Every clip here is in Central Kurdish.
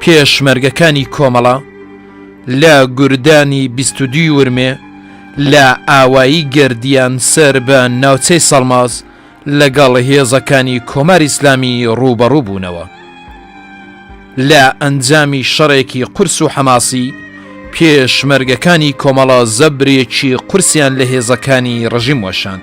پێشمەرگەکانی کۆمەڵە لە گوردانی بیستودی ورمێ لە ئاوایی گردیان سەر بە ناوچەی سەڵماز لەگەڵ هێزەکانی کۆمار ئیسلامی ڕووبەڕوو بوونەوە لە ئەنجامی شەڕێکی قورس و حەماسی پێشمەرگەکانی کۆمەڵە زەبرێکی قورسیان لە هێزەکانی ڕژیم وەشاند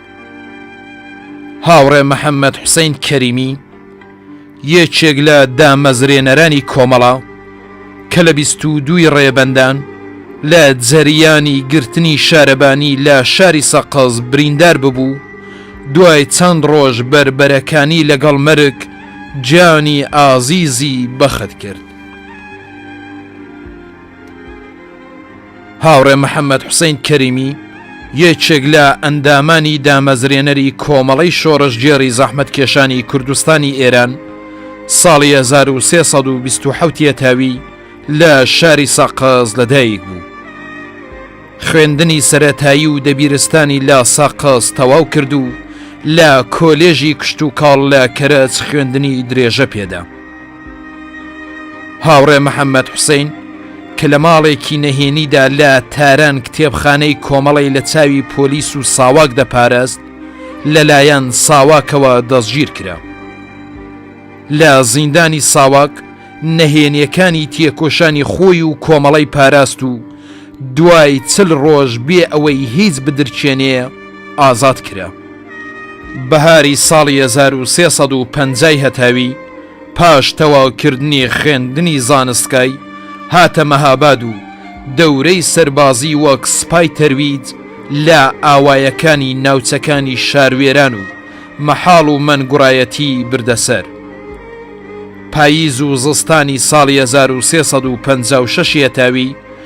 هاوڕێ محەممەد حوسین کەریمی یەکێک لە دامەزرێنەرانی کۆمەڵە کە لە بیست و دووی ڕێبەندان لە جەریانی گرتنی شارەبانی لە شاری سەقز بریندار ببوو دوای چەند ڕۆژ بەربەرەکانی لەگەڵ مەرگ جانی ئازیزی بەخت کرد. هاوڕێ محەمەد حوسەین کەریمی، یەکێک لە ئەندامانی دامەزرێنەری کۆمەڵەی شۆڕشگێڕی زەحمەتکێشانی کوردستانی ئێران، ساڵی هەزار و سێ سەد و بیست و حەوت یەتاوی لە شاری سەقز لەدایک بوو. خوێندنی سەرەتایی و دەبیرستانی لە سەقز تەواو کرد و لە کۆلێژی کشتوکاڵ لە کەرەج خوێندنی درێژە پێدا. هاوڕێ محەممەد حوسین کە لە ماڵێکی نەهێنیدا لە تاران کتێبخانەی کۆمەڵی لە چاوی پۆلیس و ساواک دەپارست لەلایەن ساواکەوە دەستگیر کرا. لە زیندانی ساواک نەهێنیەکانی تێکۆشانی خۆی و کۆمەڵی پاراست و دوای چل ڕۆژ بێ ئەوەی هیچ بدرچێنێ ئازاد کرا. بەهاری ساڵی 1350 هەتاوی پاش تەواوکردنی خوێندنی زانستکای هاتە مەهاباد و دەورەی سەربازی وەک سپای تەرویج لە ئاوایەکانی ناوچەکانی شاروێران و مەحاڵ و مەنگوڕایەتی بردەسەر پاییز و زستانی ساڵی 1356 هەتاوی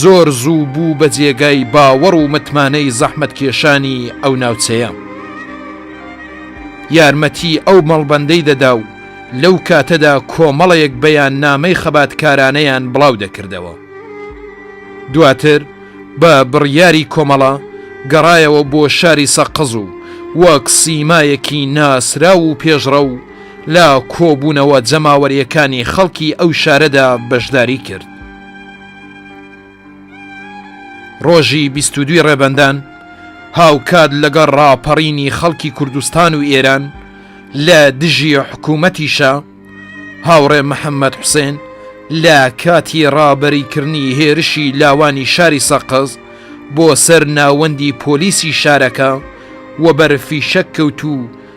زۆر زوو بوو بە جێگای باوەڕ و متمانەی زەحمەتکێشانی ئەو ناوچەیە. یارمەتی ئەو مەڵبەندەی دەدا و لەو کاتەدا کۆمەڵێک بەیاننامەی خەباتکارانەیان بڵاو دەکردەوە. دواتر بە بڕیاری کۆمەڵە گەڕایەوە بۆ شاری سەقز و وەک سیمایەکی ناسراو و پێشڕەو لە کۆبوونەوە جەماوەرییەکانی خەڵکی ئەو شارەدا بەشداری کرد. ڕۆژی بیست و دووی ڕێبەندان هاوکات لەگەڵ ڕاپەڕینی خەڵکی کوردستان و ئێران لە دژی حکوومەتیشە هاوڕێ محەممەد حوسێن لە کاتی ڕابەریکردنی هێرشی لاوانی شاری سەقز بۆ سەر ناوەندی پۆلیسی شارەکە وەبەر فیشەک کەوت و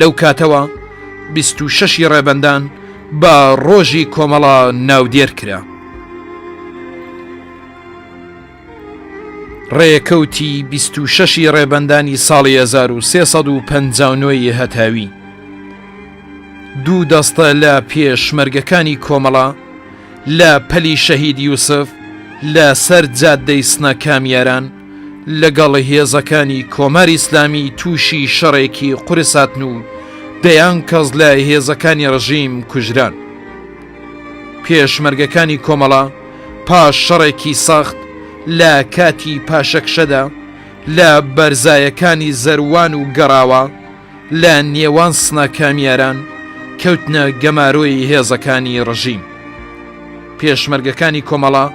لەو کاتەوە بیست و شەشی ڕێبەندان بە ڕۆژی کۆمەڵە ناودێر کرا. ڕێکەوتی بیست و شەشی ڕێبەندانی ساڵی 1350ی هەتاوی. دوو دەستە لە پێشمەرگەکانی کۆمەڵە لە پەلی شەهید یوسف لە سەر جاددەی سنە کامیاران، لەگەڵ هێزەکانی کۆماری ئیسلامی تووشی شەڕێکی قورس هاتن و دەیان کەس لە هێزەکانی ڕژیم کوژران. پێشمەرگەکانی کۆمەڵە پاش شەڕێکی سەخت لە کاتی پاشەکشەدا لە بەرزایەکانی زەروان و گەڕاوە، لە نێوان سنە کامیاران کەوتنە گەمارۆی هێزەکانی ڕژیم. پێشمەرگەکانی کۆمەڵە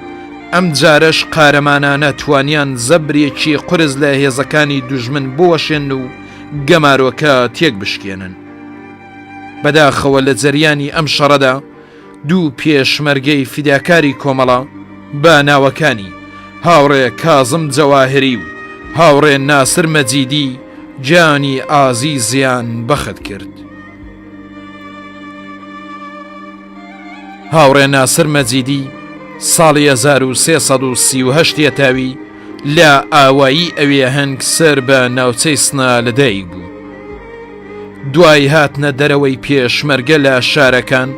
ئەم جارەش قارەمانانە توانیان زەبرێکی قورس لە هێزەکانی دوژمن بوەشێن و گەمارۆکە تێک بشکێنن. بەداخەوە لە جەریانی ئەم شەڕەدا، دوو پێشمەرگەی فیداکاری کۆمەڵە بە ناوەکانی، هاوڕێ کازم جەواهری و هاوڕێ ناسر مەجیدی گیانی ئازیزیان بەخت کرد. هاوڕێ ناسر مەجیدی ساڵی 1338 یەتاوی لە ئاوایی ئەوێ هەنگ سەر بە ناوچەی سنا لەدایک بوو. دوای هاتنە دەرەوەی پێشمەرگە لە شارەکان،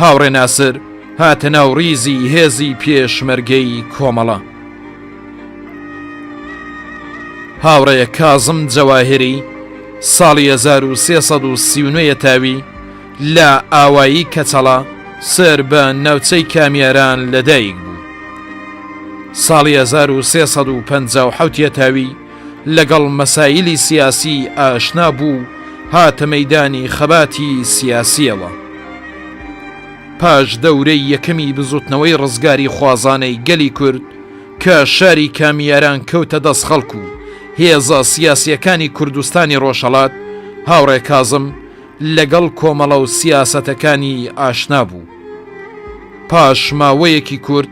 هاوڕێ ناسر هاتە ناو ڕیزی هێزی پێشمەرگەی کۆمەڵە. هاوڕێ کازم جەواهری ساڵی 1339 تاوی لە ئاوایی کەچەڵە سەر بە ناوچەی کامیاران لەدایک بوو. ساڵی 1350 تاوی لەگەڵ مەسایلی سیاسی ئاشنا بوو و هاتە مەیدانی خەباتی سیاسییەوە. پاش دەورەی یەکەمی بزوتنەوەی ڕزگاریخوازانەی گەلی کورد کە شاری کامیاران کەوتە دەست خەڵک و هێزە سیاسییەکانی کوردستانی ڕۆژهەڵات، هاوڕێ کازم لەگەڵ کۆمەڵە و سیاسەتەکانی ئاشنا بوو. پاش ماوەیەکی کورت،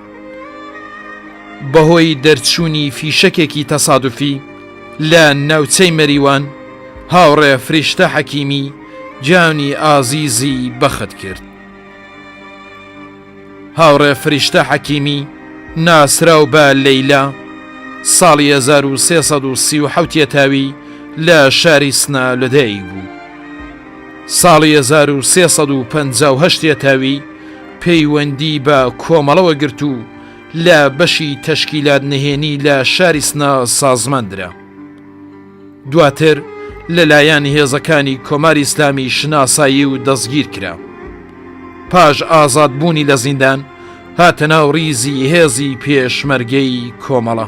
بەهۆی دەرچوونی فیشەکێکی تەسادوفی لە ناوچەی مەریوان، هاوڕێ فریشتە حەکیمی گیانی ئازیزی بەخت کرد. هاوڕێ فریشتە حەکیمی ناسراو بە لەیلا، ساڵی 1337 یەتاوی لە شاری سنە لەدایک بوو. ساڵی 1358 یەتاوی، پەیوەندی بە کۆمەڵەوە گرت و لە بەشی تەشکیلات نهێنی لە شاری سنە سازمان درا. دواتر لەلایەن هێزەکانی کۆماری ئیسلامی شناسایی و دەستگیر کرا. پاش ئازادبوونی لە زیندان هاتە ناو ڕیزی هێزی پێشمەرگەی کۆمەڵە.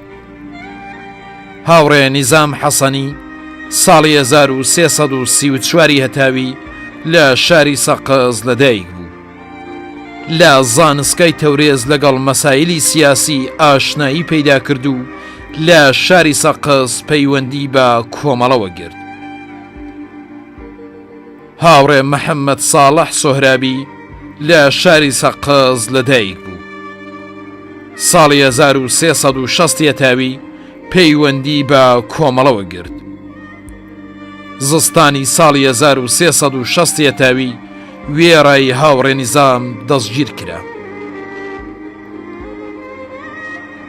هاوڕێ نیزام حەسەنی ساڵی 1334 ی هەتاوی لە شاری سەقز لەدایک بوو. لە زانسکای تەورێز لەگەڵ مەسایلی سیاسی ئاشنایی پەیدا کرد و لە شاری سەقز پەیوەندی بە کۆمەڵەوە گرت. هاوڕێ محەممەد ساڵح سۆهرابی لە شاری سەقز لەدایک بوو. ساڵی 1360 تاوی پەیوەندی بە کۆمەڵەوە گرت. زستانی ساڵی 1360 تاوی وێڕای هاوڕێ نیزام دەستگیر کرا.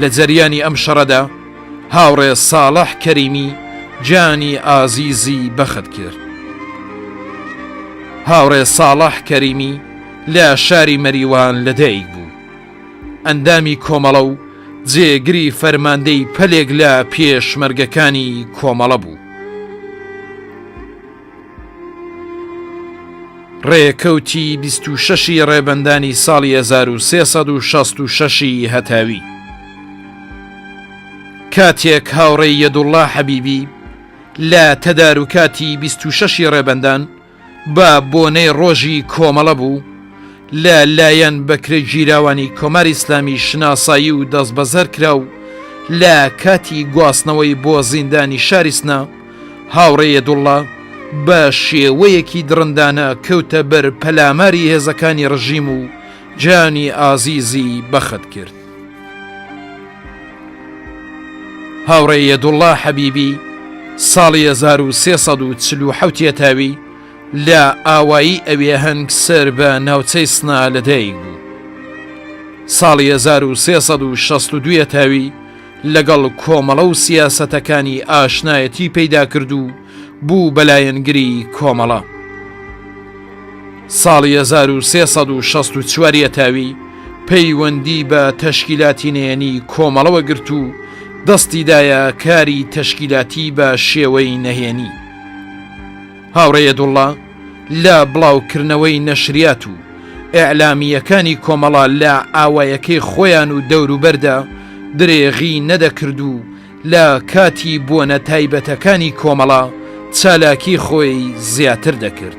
لە جەریانی ئەم شەڕەدا هاوڕێ ساڵح کەریمی گیانی ئازیزی بەخت کرد. هاوڕێ ساڵح کەریمی لە شاری مەریوان لەدایک بوو. ئەندامی کۆمەڵە و جێگری فەرماندەی پەلێک لە پێشمەرگەکانی کۆمەڵە بوو. ڕێکەوتی بیست و شەشی ڕێبەندانی ساڵی هەزار و سێ سەد و شەست و شەشی هەتاوی کاتێک هاوڕێی یەدوڵڵا حەبیبی لە تەداروکاتی بیست و شەشی ڕێبەندان بە بۆنەی ڕۆژی کۆمەڵە بوو لە لایەن بەکرێ گیراوانی کۆماری ئیسلامی شناسایی و دەستبەزەر کرا و لە کاتی گواستنەوەی بۆ زیندانی شاری سنە هاوڕێ یەدوڵڵا بە شێوەیەکی دڕندانە کەوتە بەر پەلاماری هێزەکانی ڕژیم و جانی ئازیزی بەخت کرد. هاوڕێ یەدوڵڵا حەبیبی ساڵی 1340 یەتاوی لە ئاوایی ئەوێ هەنگ سەر بە ناوچەی سنا لەدایک بوو. ساڵی 1362 یەتاوی لەگەڵ کۆمەڵە و سیاسەتەکانی ئاشنایەتی پەیدا کرد و بوو بە لایەنگری کۆمەڵە. ساڵی هەزار و سێ سەد و شەست و چوار یەتاوی پەیوەندی بە تەشکیلاتی نەیەنی کۆمەڵەوە گرت و دەستی دایە کاری تەشکیلاتی بە شێوەی نەهێنی. هاوڕێ یەدوڵڵا، لە بڵاوکردنەوەی نەشریات و ئیعلامییەکانی کۆمەڵە لە ئاوایەکەی خۆیان و دەوروبەردا درێغی نەدەکرد و لە کاتی بۆنە تایبەتەکانی کۆمەڵە چالاکی خۆی زیاتر دەکرد.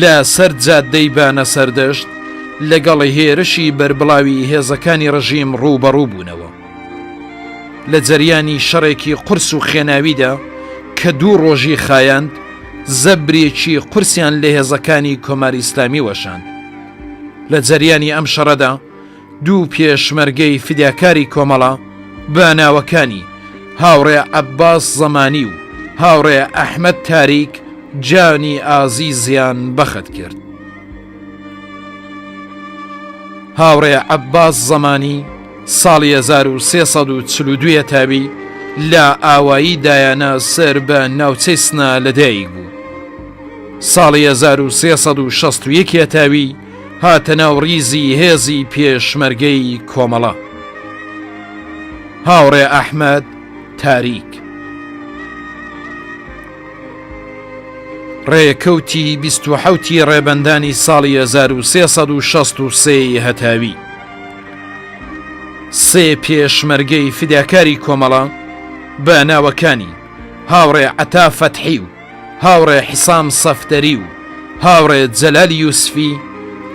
لە سەر جادەی بانە سەردەشت لەگەڵ هێرشی بەربڵاوی هێزەکانی ڕژیم ڕووبەڕوو بوونەوە لە جەریانی شەڕێکی قرس و خێناویدا کە دوو ڕۆژی خایاند زەبرێکی قورسیان لە هێزەکانی کۆماری ئسلامی وەشاند لە جەریانی ئەم شەڕەدا دوو پێشمەرگەی فیداکاری کۆمەڵە بە ناوەکانی، هاوڕێ عەباس زەمانی و هاوڕێ ئەحمەد تاریک جانی ئازیزیان بەخت کرد. هاوڕێ عەباس زەمانی ساڵی 1342 ە تاوی لە ئاوایی دایانە سەر بە ناوچەی سنە لەدایک بوو. ساڵی 1361 ە تاوی، هاتە ناو ڕیزی هێزی پێشمەرگەی کۆمەڵە. هاوڕێ ئەحمەد تاریک. ڕێکەوتی بیست و حەوتی ڕێبەندانی ساڵی 1363 هەتاوی سێ پێشمەرگەی فداکاری کۆمەڵە بە ناوەکانی هاوڕێ عەتا فەتحی و هاوڕێ حسام سەفدەری و هاوڕێ جەلال یوسفی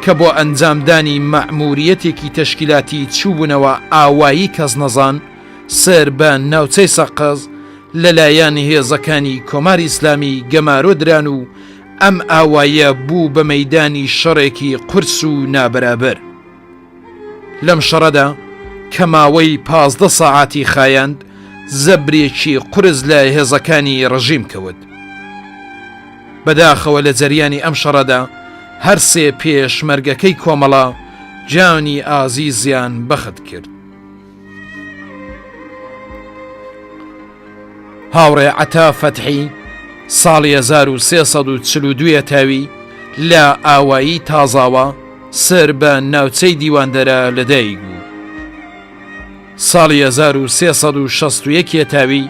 کە بۆ ئەنجامدانی مەعموریەتێکی تەشکیلاتی چووبوونەوە ئاوایی کەزنەزان سەر بە ناوچەی سەقز لەلایەن هێزەکانی کۆماری ئیسلامی گەمارۆ دران و ئەم ئاوایە بوو بە مەیدانی شەڕێکی قورس و نابەرابەر. لەم شەڕەدا کە ماوەی پازدە سەعاتی خایاند زەبرێکی قرس لە هێزەکانی ڕژیم کەوت بەداخەوە لە جەریانی ئەم شەڕەدا هەرسێ پێشمەرگەکەی کۆمەڵە جانی ئازیزیان بەخت کرد هاوڕێ عەتا فەتحی ساڵی 1342 ە تاوی لە ئاوایی تازاوە سەر بە ناوچەی دیواندەرە لەدایک بوو. ساڵی 1361 تاوی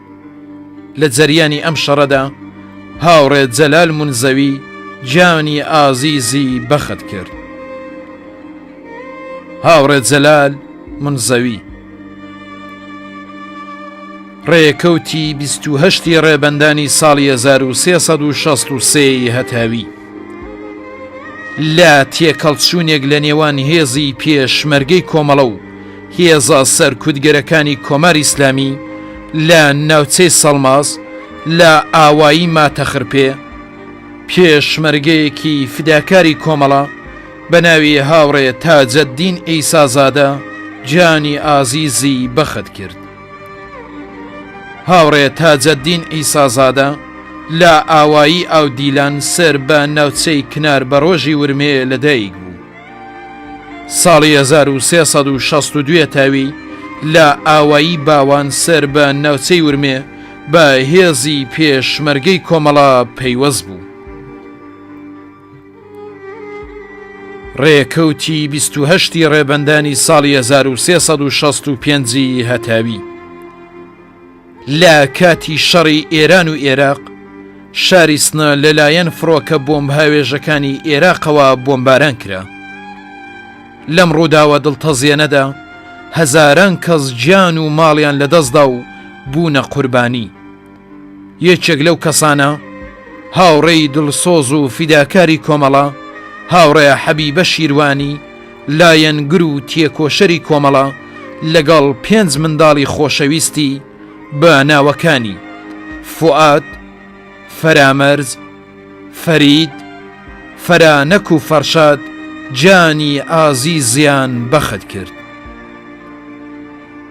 لە جەریانی ئەم شەڕەدا هاوڕێ جەلال منزەوی گیانی ئازیزی بەخت کرد. هاوڕێ جەلال منزەوی ڕێکەوتی 28 ڕێبەندانی ساڵی 1963 هەتاوی لە تێکەڵچوونێک لە نێوان هێزی پێشمەرگەی کۆمەڵە و هێزە سەرکوتگەرەکانی کۆماری ئیسلامی لە ناوچەی سەڵماس لە ئاوایی ماتەخرپێ، پێشمەرگەیەکی فیداکاری کۆمەڵە بە ناوی هاوڕێ تاجەددین عیسازادە گیانی ئازیزی بەخت کرد. هاوڕێ تاجەددین عیسازادە لە ئاوایی ئاودیلان سەر بە ناوچەی کنار بەڕۆژی ورمێ لەدایک بوو. ساڵی هەزار و سێ سەد و شەست و دوێ تاوی لە ئاوایی باوان سەر بە ناوچەی ورمێ بە هێزی پێشمەرگەی کۆمەڵە پەیوەست بوو. ڕێکەوتی 28 ی ڕێبەندانی ساڵی 1365 هەتاوی. لە کاتی شەڕی ئێران و ئێراق، شاری سنە لەلایەن فڕۆکە بۆمبهاوێژەکانی ئێراقەوە بۆمباران کرا. لەم ڕووداوە دڵتەزێنەدا هەزاران کەس گیان و ماڵیان لەدەستدا و بوونە قوربانی. یەکێک لەو کەسانە، هاوڕێی دڵسۆز و فیداکاری کۆمەڵە، هاوڕێ حەبیبە شیروانی، لایەنگر و تێکۆشەری کۆمەڵە لەگەڵ پێنج منداڵی خۆشەویستی بە ناوەکانی، فوئاد، فەرامەرز، فەرید، فەرانەک و فەرشاد گیانی ئازیزیان بەخت کرد.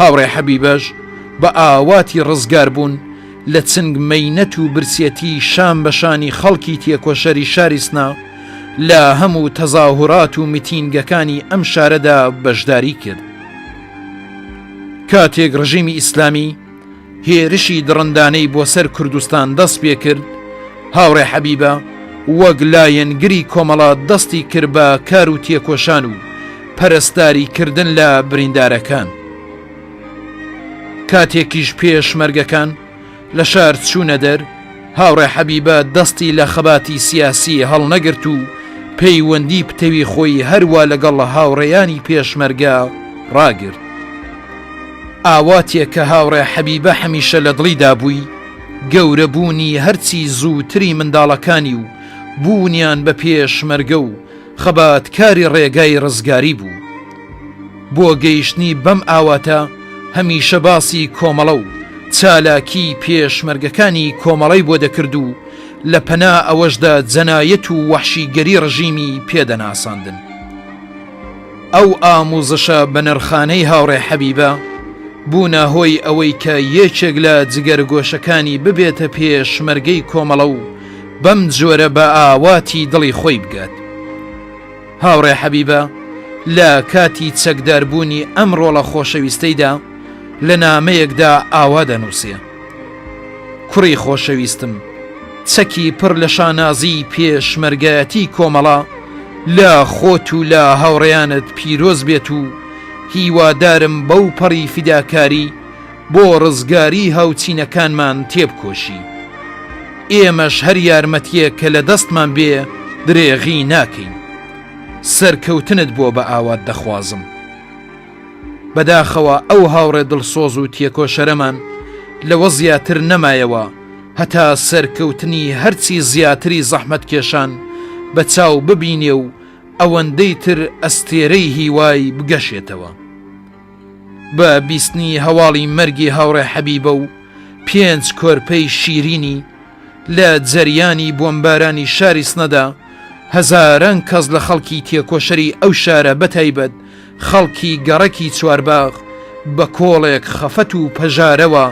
هاوڕێ حەبیبەش بە ئاواتی ڕزگار بوون لە چنگ مەینەت و برسیەتی شان بە شانی خەڵکی تێکۆشەری شاری سنە لە هەمو تەزاهورات و میتینگەکانی ئەم شارەدا بەشداری کرد. کاتێک ڕژیمی ئیسلامی، هێرشی دڕندانەی بۆ سەر کوردستان دەست پێکرد، هاوڕێ حەبیبە وەک لایەنگری کۆمەڵە دەستی کرد بە کار و تێکۆشان و پەرستاری کردن لە بریندارەکان. کاتێکیش پێشمەرگەکان لە شار چوونە دەر، هاوڕێ حەبیبە دەستی لە خەباتی سیاسی هەڵنەگرت و پەیوەندی پتەوی خۆی هەروا لەگەڵ هاوڕێیانی پێشمەرگە ڕاگرت. ئاواتێک کە هاوڕێ حەبیبە هەمیشە لە دڵیدا بووی، گەورەبوونی هەرچی زووتری منداڵەکانی و بوونیان بە پێشمەرگە و، خەبات کاری ڕێگای ڕزگاری بوو. بۆ گەیشتنی بەم ئاواتە هەمیشە باسی کۆمەڵە و چالاکی پێشمەرگەکانی کۆمەڵەی بۆ دەکرد و لە پەنا ئەوەشدا جەنایەت و وەحشیگەری ڕژیمی پێ دەناساندن. ئەو ئاموزشە بەنرخانەی هاوڕێ حەبیبە بوونە هۆی ئەوەی کە یەکێک لە جگەرگۆشەکانی ببێتە پێشمەرگەی کۆمەڵە و، بەم جۆرە بە ئاواتی دڵی خۆی بگات. هاوڕێ حەبیبە لە کاتی چەکداربوونی ئەم ڕۆڵە خۆشەویستەیدا لە نامەیەکدا ئاوا دەنووسێ، کوڕی خۆشەویستم، چەکی پڕ لە شانازیی پێشمەرگایەتیی کۆمەڵە لە خۆت و لە هاوڕێیانت پیرۆز بێت و هیوادارم بەوپەڕی فیداکاری، بۆ ڕزگاری هاوچینەکانمان تێبکۆشی. ئێمەش هەر یارمەتیەک کە لە دەستمان بێ درێغی ناکەین. سەرکەوتنت بۆ بە ئاوات دەخوازم. بەداخەوە ئەو هاوڕێ دڵسۆز و تێکۆشەرەمان لەوە زیاتر نەمایەوە هەتا سەرکەوتنی هەرچی زیاتری زەحمەتکێشان بە چاو ببینێ و ئەوەندەی تر ئەستێرەی هیوای بگەشێتەوە. بە بیستنی هەواڵی مەرگی هاوڕێ حەبیبە و پێنج کۆرپەی شیرینی لە جەریانی بۆمبارانی شاری سنەدا هەزاران کەس لە خەڵکی تێکۆشەری ئەو شارە بەتایبەت خەڵکی گەڕەکی چوارباغ بە کۆڵێک خەفەت و پەژارەوە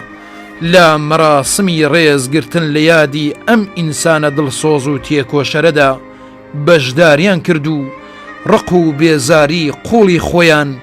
لە مەراسمی ڕێزگرتن لە یادی ئەم ئینسانە دڵسۆز و تێکۆشەرەدا بەشداریان کرد و ڕق و بێزاری قوڵی خۆیان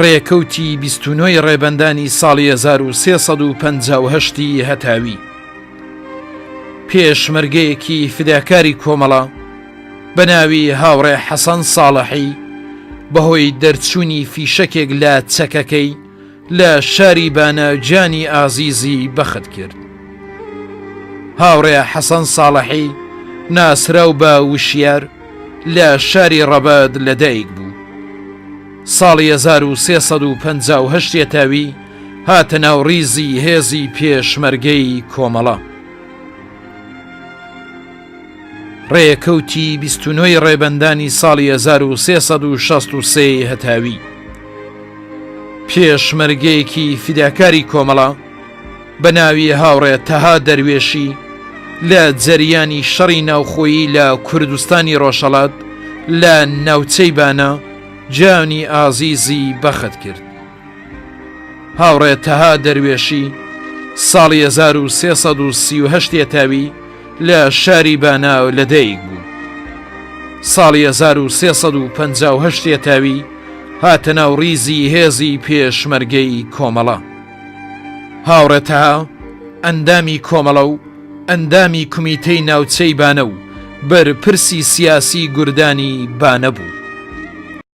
ڕێکەوتی بیست و نۆی ڕێبەندانی ساڵی 1350 ی هەتاوی پێشمەرگەیەکی فداکاری کۆمەڵە بە ناوی هاوڕێ حەسەن ساڵەحی بەهۆی دەرچوونی فیشەکێک لە چەکەکەی لە شاری بانە گیانی ئازیزی بەخت کرد. هاوڕێ حەسەن ساڵەحی ناسراو بە وشیار لە شاری ڕەبەت لەدایک بوو. ساڵی 1358 تاوی هاتە ناو ڕیزی هێزی پێشمەرگەی کۆمەڵە. ڕێکەوتی بیست و نۆ ی ڕێبەندانی ساڵی هەزار و سێ سەد و شەست و سێ ی هەتاوی پێشمەرگەیەکی فیداکاری کۆمەڵە بە ناوی هاوڕێ تەها دەروێشی لە جەریانی شەڕی ناوخۆیی لە کوردستانی ڕۆژهەڵات لە ناوچەی بانە جانی ئازیزی بەخت کرد. هاوڕێ تەها دەروێشی ساڵی 1338 تێتاوی لە شاری باناو لە دەیک بوو ساڵی 1350 تێتاوی هاتە ناو ڕیزی هێزی پێشمەرگەی کۆمەڵە هاوڕێتەها ئەندامی کۆمەڵە و ئەندامی کومیتەی ناوچەی بانە و بەرپرسی سیاسی گوردانی بانەبوو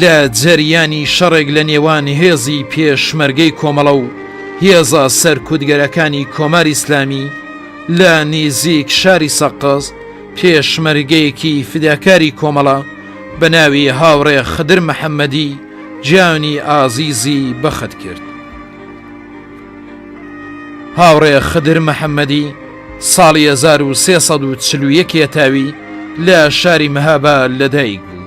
لە جەریانی شەڕێک لە نێوان هێزی پێشمەرگەی کۆمەڵە و هێزە سەرکوتگەرەکانی کۆماری ئیسلامی لە نیزیک شاری سەقز پێشمەرگەیەکی فیداکاری کۆمەڵە بە ناوی هاوڕێ خدر محەمەدی گیانی ئازیزی بەخت کرد. هاوڕێ خدر محەمەدی ساڵی 1340 یەکێتاوی لە شاری مەهابا لەدایک بوو.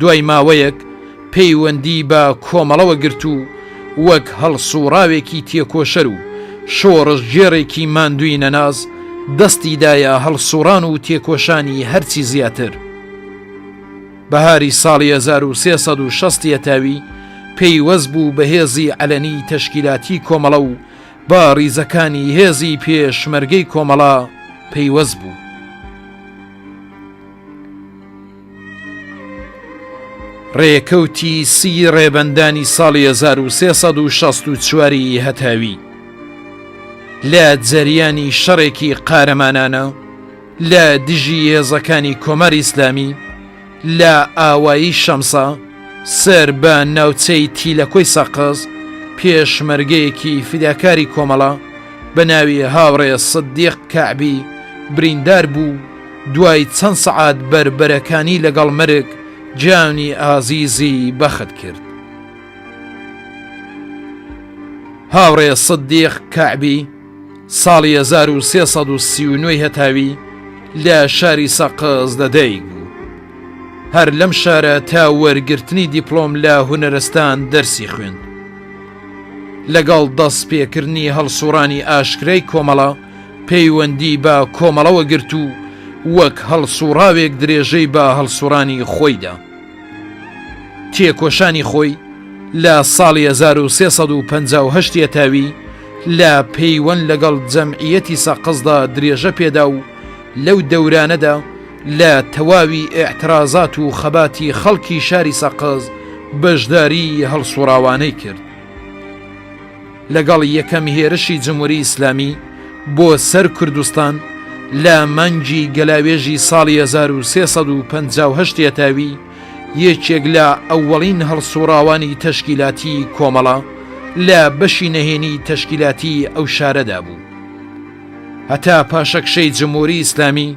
دوای ماوەیەک پەیوەندی بە کۆمەڵەوە گرت و وەک هەڵسووڕاوێکی تێکۆشەر و شۆڕشگێڕێکی ماندووی نەناس دەستی دایە هەڵسووڕان و تێکۆشانی هەرچی زیاتر. بەهاری ساڵی هەزار و سێ سەد و شەست یەتاوی پەیوەست بوو بە هێزی عەلەنی تەشکیلاتی کۆمەڵە و بە ڕیزەکانی هێزی پێشمەرگەی کۆمەڵە پەیوەست بوو. ڕێکەوتی سی ڕێبەندانی ساڵی 1964 ی هەتاوی لە جەریانی شەڕێکی قارەمانانە لە دژی هێزەکانی کۆمار ئیسلامی لە ئاوایی شەمسا سەر بە ناوچەی تیلەکۆی سەقز پێشمەرگەیەکی فیداکاری کۆمەڵە بە ناوی هاوڕێ سدیق کەعبی بریندار بوو دوای چەند سەعات بەربەرەکانی لەگەڵ مەرگ گیانی ئازیزی بەخت کرد. هاوڕێ سدیق کەعبی ساڵی 1339 هەتاوی لە شاری سەقز لەدایک بوو هەر لەم شارە تا وەرگرتنی دیپلۆم لە هونەرستان دەرسی خوێند لەگەڵ دەست پێکردنی هەڵسوڕانی ئاشکرای کۆمەڵە پەیوەندی بە کۆمەڵەوە گرت و وەک هەڵسوڕاوێک درێژەی بە هەڵسوڕانی خۆی دا. تێکۆشانی خۆی لە ساڵی هەزار و سێ سەد و پەنجا و هەشت یەتاوی لە پەیوەند لەگەڵ جەمعیەتی سەقزدا درێژە پێدا و لەو دەورانەدا لە تەواوی ئیعترازات و خەباتی خەڵکی شاری سەقز بەشداریی هەڵسوڕاوانەی کرد. لەگەڵ یەکەم هێرشی جموری ئیسلامی بۆ سەر کوردستان لە مانگی گەلاوێژی ساڵی هەزار و سێ سەد و پەنجا و هەشت یەتاوی یەکێک لە ئەوەڵین هەڵسوڕاوانی تەشکیلاتی کۆمەڵە لە بەشی نەهێنی تەشکیلاتی ئەو شارەدا بوو هەتا پاشەکشەی جموری ئیسلامی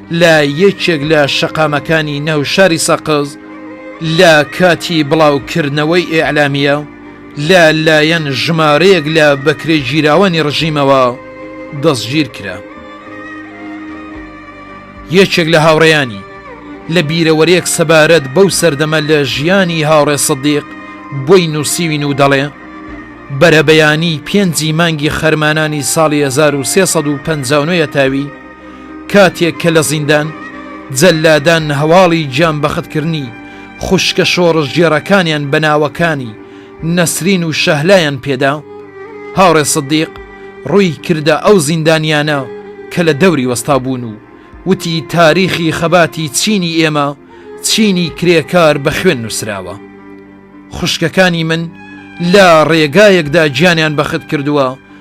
لە یەکێک لە شەقامەکانی ناو شاری سەقز لە کاتی بڵاوکردنەوەی ئیعلامیە لە لایەن ژمارەیەک لە بەکرێگیراوانی ڕژیمەوە دەستگیر کرا. یەکێک لە هاوڕێیانی لە بیرەوەرێک سەبارەت بەو سەردەمە لە ژیانی هاوڕێ سەدیق بۆی نووسیوین و دەڵێ بەرەبەیانی پێنجی مانگی خەرمانانی ساڵی 1350 تاوی کاتێک کە لە زیندان، جەللادان هەواڵی گیان بەختکردنی خوشکە شۆڕشگێڕەکانیان بە ناوەکانی نەسرین و شەهلایان پێدا، هاوڕێ سدیق ڕووی کردە ئەو زیندانیانە کە لە دەوری وەستابوون و وتی تاریخی خەباتی چینی ئێمە چینی کرێکار بە خوێن نووسراوە. خوشکەکانی من لە ڕێگایەکدا گیانیان بەختکردووە،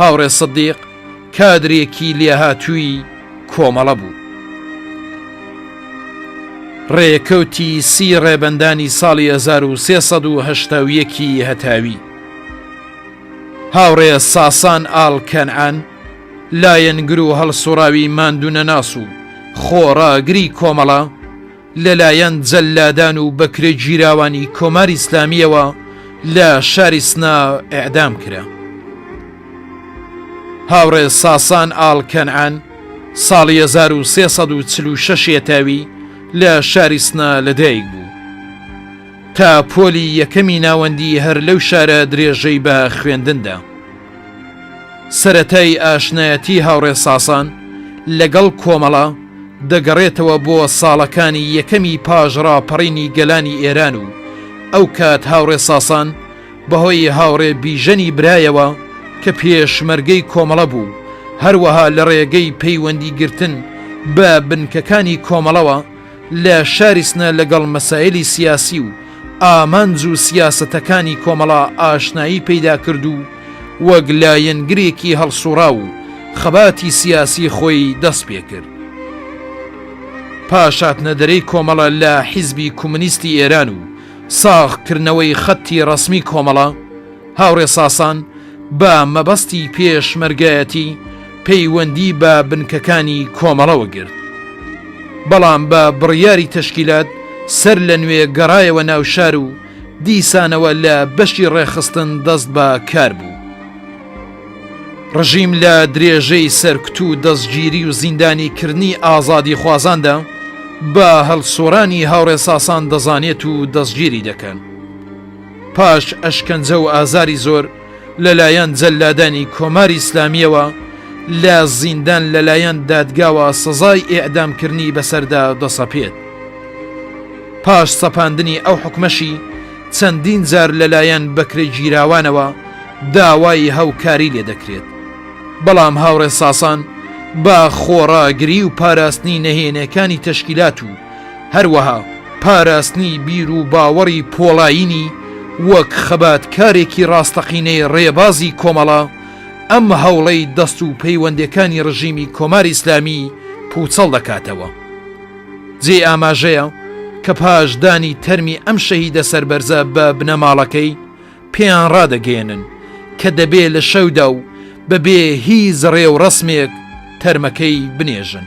هاوڕێ سدیق کادرێکی لێهاتووی کۆمەڵە بوو. ڕێکەوتی سی ڕێبەندانی ساڵی 1370ەکی هەتاوی هاوڕێ ساسان ئاڵ کەنعان لایەنگر و هەڵسوڕاوی ماندوونەناس و خۆڕاگری کۆمەڵە لەلایەن جەللادان و بەکرێگیراوانی کۆماری ئیسلامییەوە لە شاری سنە ئێعدام کرا. هاوڕێ ساسان ئاڵ کەنعان ساڵی 1346 یەتاوی لە شاری سنە لەدایک بوو. تا پۆلی یەکەمی ناوەندی هەر لەو شارە درێژەی بە خوێندندا. سەرەتای ئاشنایەتی هاوڕێ ساسان لەگەڵ کۆمەڵە دەگەڕێتەوە بۆ ساڵەکانی یەکەمی پاش ڕاپەڕینی گەلانی ئێران و ئەو کات هاوڕێ ساسان بەهۆی هاوڕێ بیژەنی برایەوە کە پێشمەرگەی کۆمەڵە بوو هەروەها لە ڕێگەی پەیوەندی گرتن بە بنکەکانی کۆمەڵەوە لە شاری سنە لەگەڵ مەسایلی سیاسی و ئامانج و سیاسەتەکانی کۆمەڵا ئاشنایی پەیدا کرد و وەک لایەنگرێکی هەڵسوڕاو و خەباتی سیاسی خۆی دەست پێ کرد. پاش هاتنە دەرێی کۆمەڵە لە حیزبی کومنیستی ئێران و ساغ کردنەوەی خەتی ڕەسمی کۆمەڵە، هاوڕێ ساسان بە مەبەستی پێشمەرگایەتی پەیوەندی بە بنکەکانی کۆمەڵەوە گرت، بەڵام بە بڕیاری تەشکیلات سەر لە نوێ گەڕایەوە ناو شار و دیسانەوە لە بەشی ڕێکخستن دەست بە کار بوو. ڕژیم لە درێژەی سەرکوت و دەستگیری و زیندانی کردنی ئازادیخوازاندا بە هەڵسووڕانی هاوڕێ ساسان دەزانێت و دەستگیری دەکەن. پاش ئەشکەنجە و ئازاری زۆر لەلایەن جەللادانی کۆماری ئیسلامییەوە لە زیندان لەلایەن دادگاوە سزای ئێعدامکردنی بەسەردا دەسەپێت. پاش سەپاندنی ئەو حوکمەشی چەندین جار لەلایەن بەکرێگیراوانەوە داوای هاوکاری لێ دەکرێت. بەڵام هاوڕێ ساسان بە خۆڕاگری و پاراستنی نەهێنیەکانی تەشکیلات و، هەروەها پاراستنی بیر و باوەڕی پۆڵایینی وەک خەباتکارێکی ڕاستەقینەی ڕێبازی کۆمەڵە، ئەم هەوڵەی دەست و پەیوەندەکانی ڕژیمی کۆماری ئیسلامی پوچەڵ دەکاتەوە. جێی ئاماژەیە کە پاش دانی تەرمی ئەم شەهیدە سەربەرزە بە بنەماڵەکەی، پێیان ڕادەگەیەنن کە دەبێ لە شەودا و بە بێ هیچ ڕێوڕەسمێک تەرمەکەی بنێژن.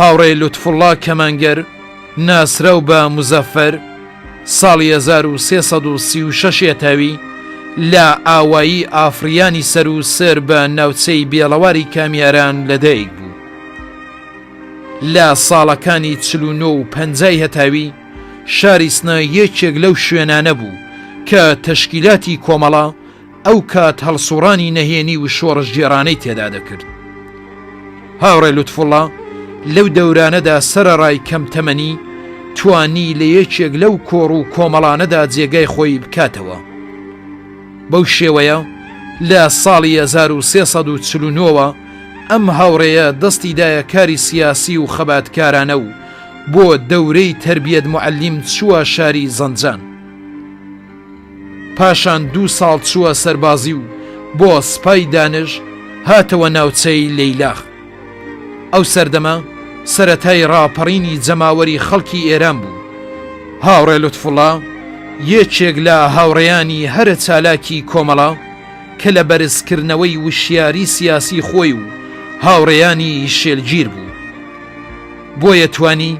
هاوڕێ لوتفوڵڵا کەمانگەر ناسراو بە موزەفەر ساڵی هەزار و سێ سەد و سی و شەش ێتاوی لە ئاوایی ئافڕیانی سەر و سەر بە ناوچەی بێڵەواری کامیاران لەدایک بوو. لە ساڵەکانی چل و نۆ و پەنجای هەتاوی شاری سنە یەکێک لەو شوێنانە بوو کە تەشکیلاتی کۆمەڵە، ئەو کات هەڵسوڕانی نەهێنی و شۆڕشگێڕانەی تێدا دەکرد. هاوڕێ لوتفوڵا لەو دەورانەدا سەرەڕای کەم تەمەنی توانی لە یەکێک لەو کۆڕ و کۆمەڵانەدا جێگای خۆی بکاتەوە. بەو شێوەیە لە ساڵی 1340ەوە ئەم هاوڕێیە دەستی دایە کاری سیاسی و خەباتکارانە و بۆ دەورەی تەربیەت معلیم چووە شاری زەنجان. پاشان دوو ساڵ چووە سەربازی و بۆ سپای دانش هاتەوە ناوچەی لەیلاخ. ئەو سەردەمە سەرەتای ڕاپەڕینی جەماوەری خەڵکی ئێران بوو. هاوڕێ لوتفوڵا یەکێک لە هاوڕێیانی هەرە چالاکی کۆمەڵە کە لە بەرزکردنەوەی وشیاری سیاسی خۆی و هاوڕێیانی شێلگیر بوو. بۆیە توانی،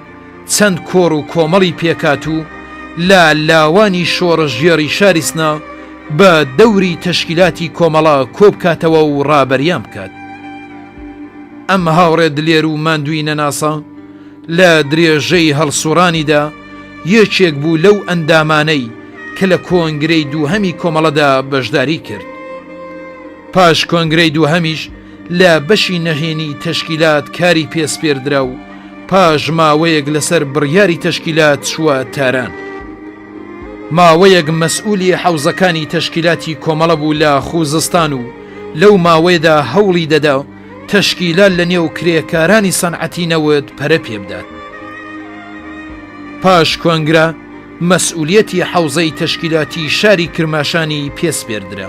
چەند کۆڕ و کۆمەڵی پێکهات و لە لاوانی شۆڕشگێڕی شاری سنە بە دەوری تەشکیلاتی کۆمەڵە کۆبکاتەوە و ڕابەریان بکات. ئەم هاوڕێ دلێر و ماندووی نەناسە لە درێژەی هەڵسوڕانیدا یەکێک بوو لەو ئەندامانەی کە لە کۆنگرەی دووهەمی کۆمەڵەدا بەشداری کرد. پاش کۆنگرەی دووهەمیش لە بەشی نەهێنی تەشکیلات کاری پێ سپێردرا و پاش ماوەیەک لەسەر بڕیاری تەشکیلات چووە تاران. ماوەیەک مەسئوولی حەوزەکانی تەشکیلاتی کۆمەڵە بوو لە خووزستان و لەو ماوەیەدا هەوڵی دەدا تەشکیلات لەنێو کرێکارانی سەنعەتی نەوت پەرە پێ بدات. پاش کۆنگرە مەسئوولیەتی حەوزەی تەشکیلاتی شاری کرماشانی پێ سپێردرا.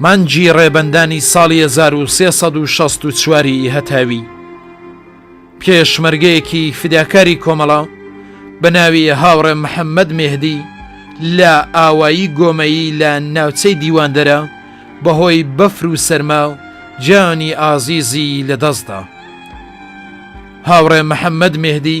مانگی ڕێبەندانی ساڵی هەزار و سێ سەد و شەست و چوار ی هەتاوی پێشمەرگەیەکی فیداکاری کۆمەڵە بە ناوی هاوڕێ محەممەد مێهدی لە ئاوایی گۆمەیی لە ناوچەی دیواندەرە بە هۆی بەفر و سەرما و گیانی ئازیزی لە دەستدا هاوڕێ محەممەد مێهدی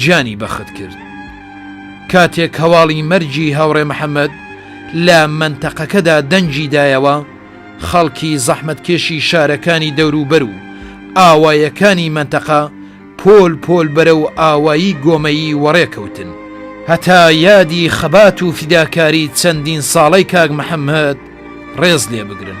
گیانی بەخت کرد. کاتێک هەواڵی مەرگی هاوڕێ محەمەد لە مەنتەقەکەدا دەنگی دایەوە، خەڵکی زەحمەتکێشی شارەکانی دەوروبەر و ئاوایەکانی مەنتەقە پۆل پۆل بەرەو ئاوایی گۆمەیی وەڕێ کەوتن، هەتا یادی خەبات و فیداکاری چەندین ساڵەی کاک محەمەد ڕێز لێ بگرن.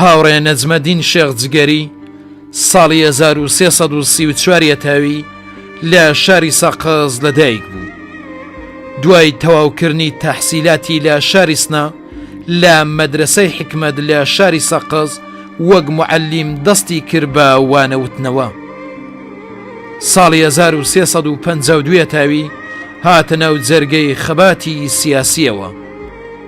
هاوڕێ نەجمەدین شێخ جگەری ساڵی 1334 یەتاوی لە شاری سەقز لەدایک بوو دوای تەواوکردنی تەحسیلاتی لە شاری سنا لە مەدرسەی حکمت لە شاری سەقز وەک معلیم دەستی کرد بە وانەوتنەوە ساڵی 1352 تاوی هاتە ناو جەرگەی خەباتی سیاسیەوە.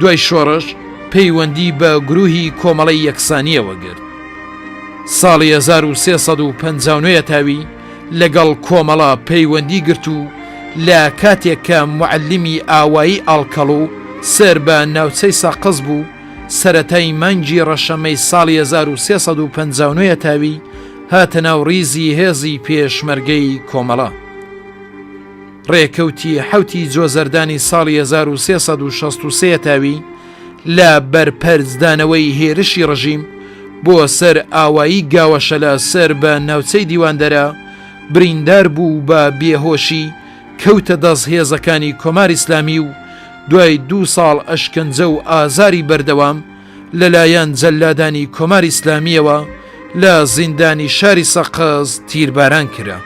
دوای شۆڕش پەیوەندی بە گروهی کۆمەڵی یەکسانیەوە گرت ساڵی 1350 تاوی لەگەڵ کۆمەڵە پەیوەندی گرت و لە کاتێک کە معلمی ئاوایی ئاڵکەڵ و سەر بە ناوچەی ساقز بوو سەتای مانگی ڕەشەمەی ساڵی 1350 تاوی هاتە ناو ڕیزی هێزی پێشمەرگەی کۆمەڵە. ڕێکەوتی حەوتی جۆزەردانی ساڵی هەزار و سێ سەد و شەست و سێ تاوی لە بەرپەرچدانەوەی هێرشی ڕژیم بۆ سەر ئاوایی گاوەشەلە سەر بە ناوچەی دیواندەرە بریندار بوو و بە بێهۆشی کەوتە دەست هێزەکانی کۆماری ئیسلامی و دوای دوو ساڵ ئەشکەنجە و ئازاری بەردەوام لەلایەن جەللادانی کۆماری ئیسلامییەوە لە زیندانی شاری سەقز تیرباران کرا.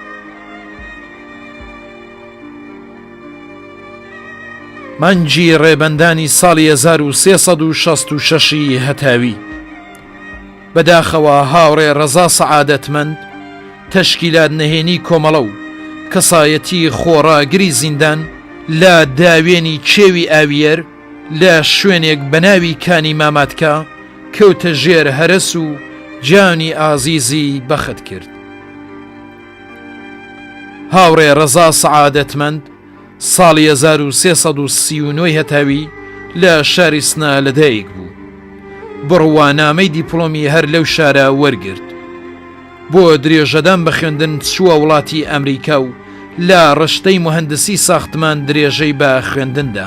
مانگی ڕێبەندانی ساڵی 1366ی هەتاوی بەداخەوە هاوڕێ ڕەزا سەعادەتمەند تەشکیلات نەهێنی کۆمەڵە و کەسایەتی خۆڕاگری زیندان لە داوێنی کێوی ئاویەر لە شوێنێک بە ناوی کانی ماماتکا کەوتە ژێر هەرەس و گیانی ئازیزی بەخت کرد. هاوڕێ ڕەزا سەعادەتمەند ساڵی 1339 هەتاوی لە شاری سنا لەدایک بوو بڕوانامەی دیپلۆمی هەر لەو شارە وەرگرت بۆ درێژەدان بە خوێندن چووە وڵاتی ئەمریکا و لە ڕشتەی مهندسی ساختمان درێژەی بە خوێندندا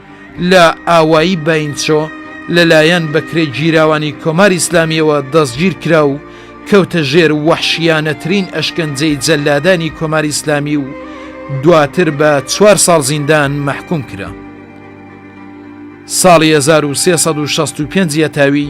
لە ئاوایی باینچۆ لەلایەن بەکرێگیراوانی کۆماری ئیسلامییەوە دەستگیرکرا و کەوتە ژێر وەحشییانەترین ئەشکەنجەی جەللادانی کۆماری ئیسلامی و دواتر بە چوار ساڵ زیندان مەحکووم کرا. ساڵی هەزار و سێ سەد و شەست و پێنج یەتاوی،